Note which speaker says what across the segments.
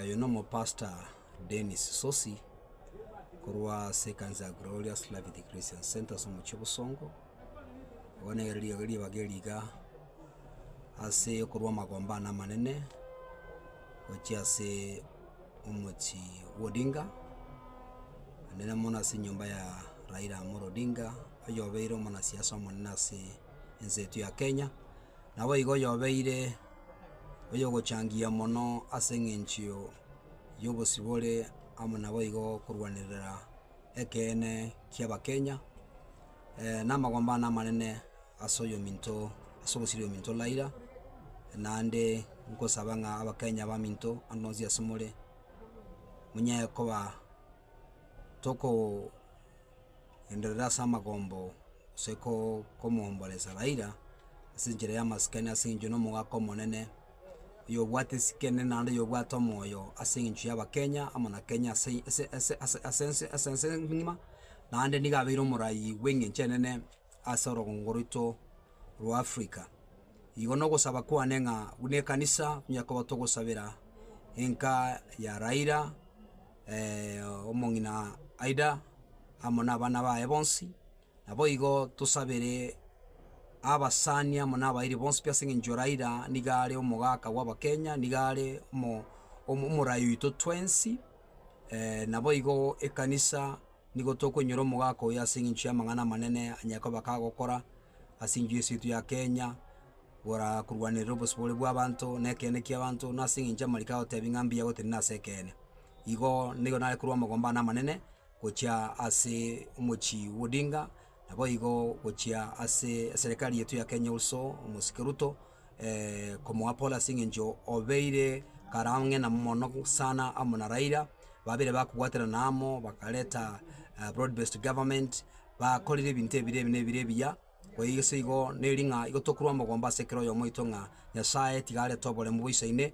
Speaker 1: Oyo nomopastor Dennis Sosi, korwa ase ekanisa ya Glorious Life The Christian Centre ase omochie Bosongo, igo nere riogi ribaga eriga ase okorwa amagombe ane amanene gochia ase omochie bwa Odinga, nere mono ase enyomba ya Raila Amolo Odinga, oyo obeire omonasiasa omonene ase ense yaito ya Kenya, naboigo oyobeire. oyogochangia mono ase engencho y'obosibore amo naboigo korwanerera ekeene ki'abakenya, na amagomba one amanene ase oyominto ase ogosiria oyominto Raila, naende nkosaba ng'a abakenya abaminto ande onsi ase more, monyare koba. tokogenderera ase amagombo gose ko- komwomboresa Raila, ase enchera y'amasikani ase eng'encho nomogaka omonene, oyo obwate esikene naende oyo obwate omoyo ase eng'encho y'abakenya amo na kenya ase eye ase ase ase ase ense ase ense ng'ima, naende nigo abeire omorayi bw'eng'encho enene ase orogongo rwaito rwa africa. Igo na ogosaba kwane ng'a buna ekanisa, onye koba togosabera enka ya Raila. omong'ina Aida amo nabana baye bonsi, naboigo tosabere abasani amo nabairi bonsi pi as'eng'encho Raila niga are omogaka bw'abakenya, niga are omo omo omorayi oito twensi, naboigo ekanisa. Nigo tokoinyora omogaka oyo ase engencho y'amang'ana amanene Nyakoba kagokora ase enchwe yesu yaito ya Kenya, gora korwanerera obosibore bw'abanto na ekeene ki'abanto, na ase engencho amariko agotebi ng'a mbuya gotenena ase ekeene. Igo nigo nare korwa amagomba ane amanene gochia ase omochie bw'Odinga, naboigo gochia ase eserekari yaito ya Kenya also, omosike Ruto. komoapola ase eng'encho obeire karang'e na mono sana amo na Raila, babeire bakobwaterana amo bakareta broad based government, bakorire ebinto ebire ebi na ebire ebiya, koigo ase igo neri ng'a igo tokoroa omogomba ase kera oyomo oito ng'a Nyasaye tiga arete oboremu boisaine.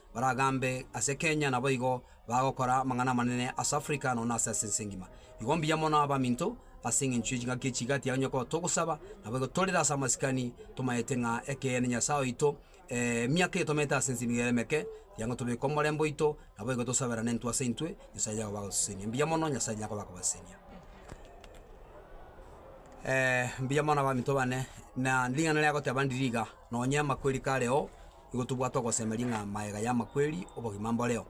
Speaker 1: baragambe ase Kenya naboigo bagokora amang'ana amanene ase Africa nonya ase ase ense engima. Igo mbuya mono abaminto ase engencho ye chingaki echi igati yago onye togosaba naboigo torire ase amasikani tomaete ng'a ekeene Nyasae oito emiaka eye tomerete ase ense nigo eremeke kiagera tobeke omorembe oito naboigo tosaberane intwe ase intwe Nyasae yago bagosesenia. Mbuya mono Nyasae Nyakoba akobasesenia. mbuya mono abaminto bane na ring'ana riagoteba ndiriga nonya amakweri kareo. Nigo tobwate ogosemeria ng'a maega y'amakweri obogima mboreo.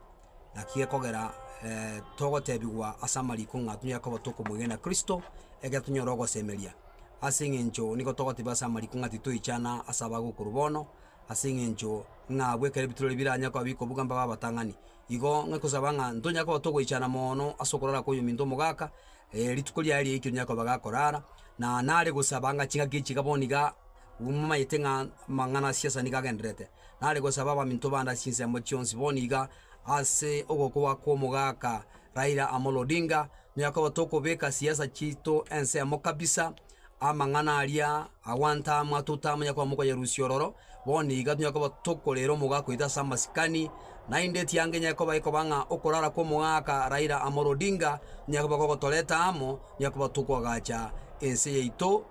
Speaker 1: Naki gekogera togotebigwa ase amariko ng'a tonyare koba tokomoigena Kristo, ekero tonyora ogosemeria. Ase eng'encho nigo togotebigwa ase amariko ng'a titoichana ase abagwe korwa bono, ase eng'encho ng'a abwo ekero ebitureri biranyare koba bikobuga mbabe abatang'ani. Igo ng'ake kosaba ng'a ntonyare koba togoichana mono ase okorara kw'oyominto omogaka, rituko riaye riaikire rinyare koba gakorara, na nare gosaba ng'a ching'aki echi iga bono igaa. Mumanyete ng'a amang'ana a siasa nigo agendererete, nare gosaba abaminto bande ase chinsemo chionsi. Bono iga, ase ogokwa kw'omogaka Raila Amolo Odinga, noyokoba tokobeka siasa chiaito ensemo kabisa, amang'ana aria agwantamwa totamanya koba mokonyerusia ororo, bono iga toyokoba tokorera omogaka oito ase amasikani, naende etianga enyare koba ekoba ng'a okorara kw'omogaka Raila Amolo Odinga, onye koba gogotoreta amo, onye koba tokoagacha ense yaito.